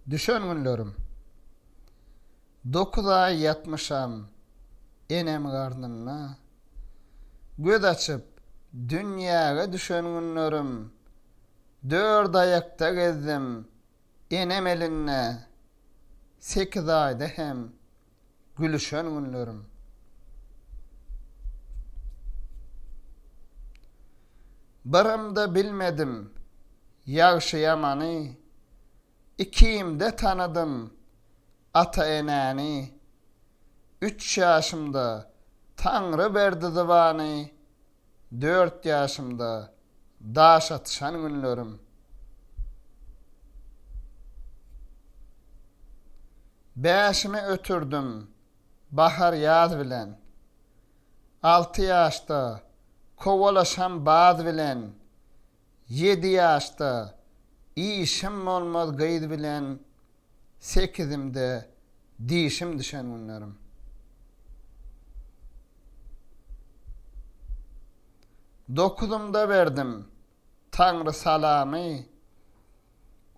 Düşen günlerim. Dokuz aý ýatmyşam enem garnynda. Göz açyp, dünýäge düşen günlerim. Dört aýakda gezdim enem elinde. Sekiz aýda hem Gülüşen günlerim. Birem-de bilmedim ýagşy-ýamany, Ikimde tanadym ata-enäni. Üç ýaşymda Taňry berdi zybany, Dört ýaşymda daş atyşan günlerim. Bäşimi ötürdim bahar-ýaz bilen. Alty ýaşda kowalaşam baz bilen. Ýedi ýaşda işim bolmaz gyz bilen sekizimde dişim düşen günlerim. Dokuzymda berdim Taňry salamy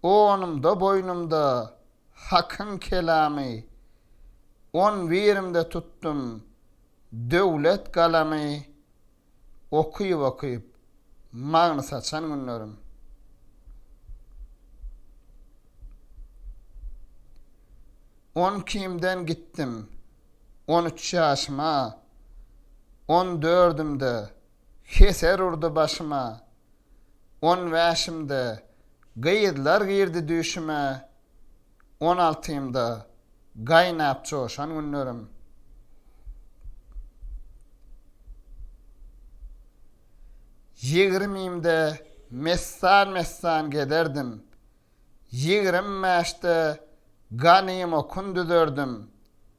Onumda boýnumda Hakyň kelamy On birimde tutdum döwlet galamy. Okyp-okyp magny saçan günlerim. On kimden gitdim, on üç ýaşyma, On dördümde heser urdy başyma, On bäşimde gyzlar girdi düýşüme, On altymda gaýnap joşan günlerim. Ýigrimimde messan-messan gezerdim. Ýigrim bäşde ganymokun düzerdim.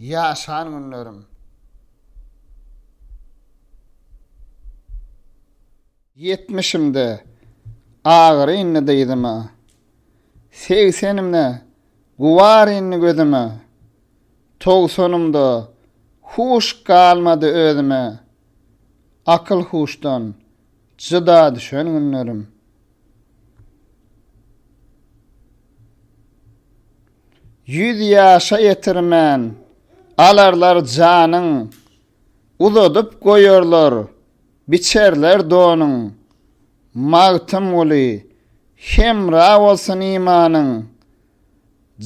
Ýaşan günlerim. Ýetmişimde agyr indi dyzyma. Segsenimde gubar indi gözüme. Togsanymda huş galmady özüme. Akyl-huşdan jyda düşen günlerim. Ýüz ýaşa ýetirmän, alarlar janyň, Uzadyp goýarlar, biçerler donuň. Magtymguly, Hemra bolsun imanyň,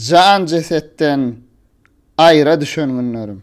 Jan-jesetden aýra düşen günlerim.